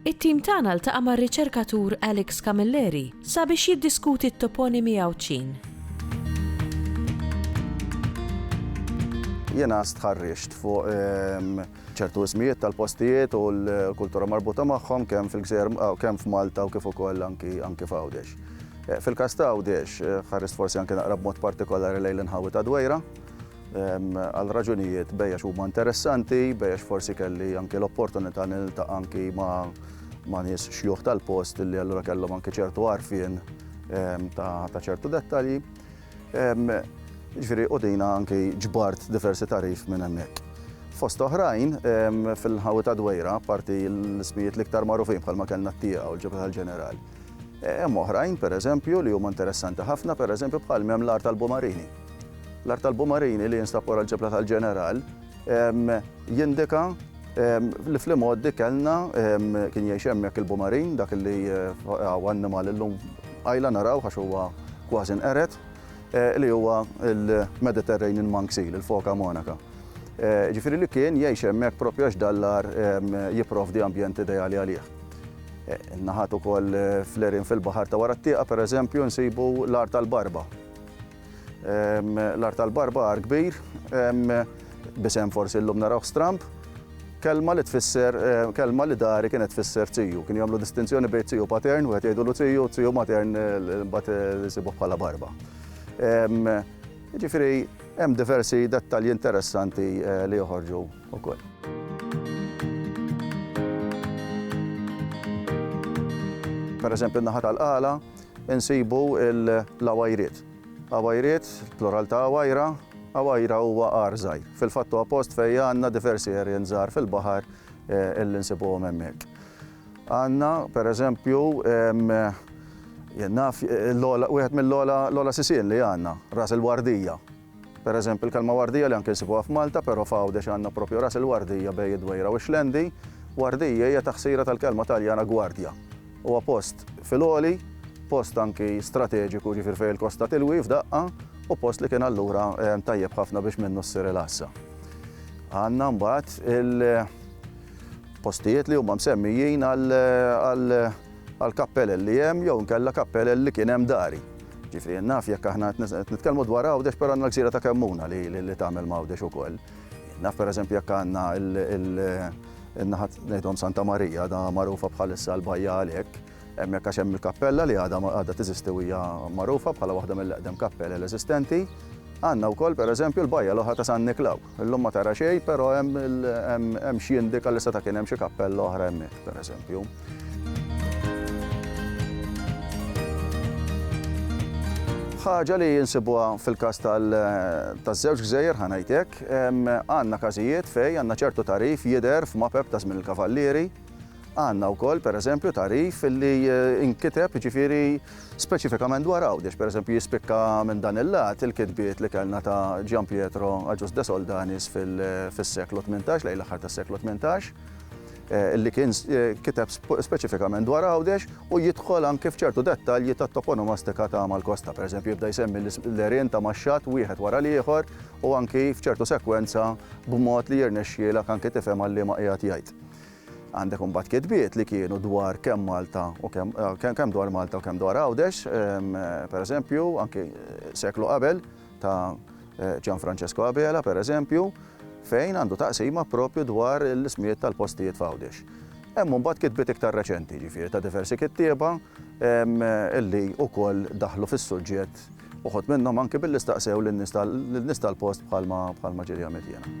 It-tim tagħna ltaqa' mar-riċerkatur Alex Camilleri sabiex jiddiskuti t-toponimi Għawdxin. Jiena stħarriġt fuq ċertu ismijiet tal-postijiet u l-kultura marbuta magħhom kemm fil-gżejjer kemm f'Malta u kif ukoll anki anki f'Għawdex. Fil-każ ta' Għawdex ħarist forsi anki naqra b'mod partikolari lejn l-inħawi ta' Dwejra għal raġunijiet bejjex huma interessanti, bejjex forsi kelli anke l-opportunità li niltaqa' anki ma' nies xjuħ tal-post li allura kellhom anke ċertu għarfien ta' ċertu dettalji. Ġifieri u dina anki ġbart diversi tarif minn hemmhekk. Fost oħrajn fil-ħawi ta' Dwejra, parti l-ismijiet l-iktar magħrufin bħalma kellna t-tieqa u l-ġebħa tal-ġeneral. Hemm oħrajn, pereżempju, li huma interessanti ħafna, pereżempju bħal hemm l-art tal-Bumarini. L-art tal-Bumarini li jinstab wara l-ġebla tal-Ġeneral jindika li fl-imgħoddi kellna kien jgħix hemmhekk il-Bumarin, dak li hawn annimal illum qajla naraw għax huwa kważi nqered, eh, li huwa l-Mediterranean monk seal, il-foka monaka. Eh, ġifieri li kien jgħix hemmhekk propju għax dallar jipprovdi ambjent ideali għalih. Eh, naħat ukoll fl-erin fil-baħar ta' wara t-tieqa, pereżempju, nsibu l-art tal-barba, L-art tal-barba għar kbir, b'isem forsi llum narawh stramb, kelma li tfisser kelma li dari kienet tfisser tiju. Kien jagħmlu distinzjoni bejn tiju patern, wieħed jgħidulu tiju, tiju matern mbagħad isibuh bħala barba. Jiġifieri hemm diversi dettalji interessanti li joħorġu wkoll. Pereżempju n-naħa tal-qala, insibu l-għawajriet. Għawajriet, plural ta' għawajra, għawajra huwa għar żgħir. Fil-fatt huwa post fejn għandna diversi għerien żgħar fil-baħar li nsibuhom hemmhekk. Għandna, pereżempju, jien naf, wieħed mill-ogħla sisien li għandna, Ras il-Wardija. Per eżempju, il-kelma wardija li anke nsibuha f'Malta, però f'Għawdex għandna propju Ras il-Wardija bejn id-Dwejra u x-Xlendi. Wardija hija taħsira tal-kelma Taljana guardia. Huwa post fil-għoli, post anki strateġiku, jiġifieri fejn il-kosta tilwi f'daqqa, u post li kien allura tajjeb ħafna biex minnu ssir il-għassa. Għandna mbagħad il-postijiet li huma msemmijin għal għal kappelel li hemm jew inkella kappelel li kien hemm dari. Ġifieri naf jekk aħna qed nitkellmu dwar Għawdex però għandna l-gżira ta' Kemmuna li tagħmel ma' Għawdex ukoll. Naf pereżempju jekk għandna in-naħa ngħidhom Santa Marija għadha magħrufa bħalissa l-bajja għalhekk, hemmhekk għax hemm il-kappella li għadha teżisti u hija magħrufa bħala waħda mill-eqdem kappelel eżistenti. Għandna wkoll pereżempju l-bajja l-oħra ta' San Niklaw. Illum ma tara xejn però hemm x'jindika li seta' kien hemm xi kappella oħra hemmhekk. pereżempju. Ħaġa li nsibuha fil-każ taż-żewġ gżejjer, ħa ngħid hekk, għandna każijiet fejn għandna ċertu tagħrif jidher f'mapep ta' żmien il-Kavallieri, għandna wkoll pereżempju tagħrif li nkiteb jiġifieri speċifikament dwar Għawdex, pereżempju jispikka minn dan il-lat il-kitbiet li kellna ta' Gian Pietro Agius de Soldanis fis-seklu tmintax, lejn l-aħħar tas-seklu tmintax. li kien kiteb speċifikament dwar Għawdex u jidħol anke f'ċertu dettalji tat-toponomastika ta' mal-kosta. Pereżempju, jibda jsemmi l-għerien ta' max-xatt wieħed wara l-ieħor u anki f'ċertu sekwenza b'mod li jirnexxielek anki tifhem għal liema qiegħed jgħid. Għandek imbagħad kitbiet li kienu dwar kemm Malta u kemm dwar Malta u kemm dwar Għawdex, pereżempju, anki seklu qabel, ta' Gian Francesco Abela, per eżempju, fejn għandu taqsima propju dwar l-ismijiet tal-postijiet f'Għawdex. Hemm mbagħad kitbiet iktar reċenti, ġifieri ta' diversi kittieba illi wkoll daħlu fis-suġġett uħud minnhom anki billi staqsew lin-nies tal-post bħalma ġieli għamilt jiena.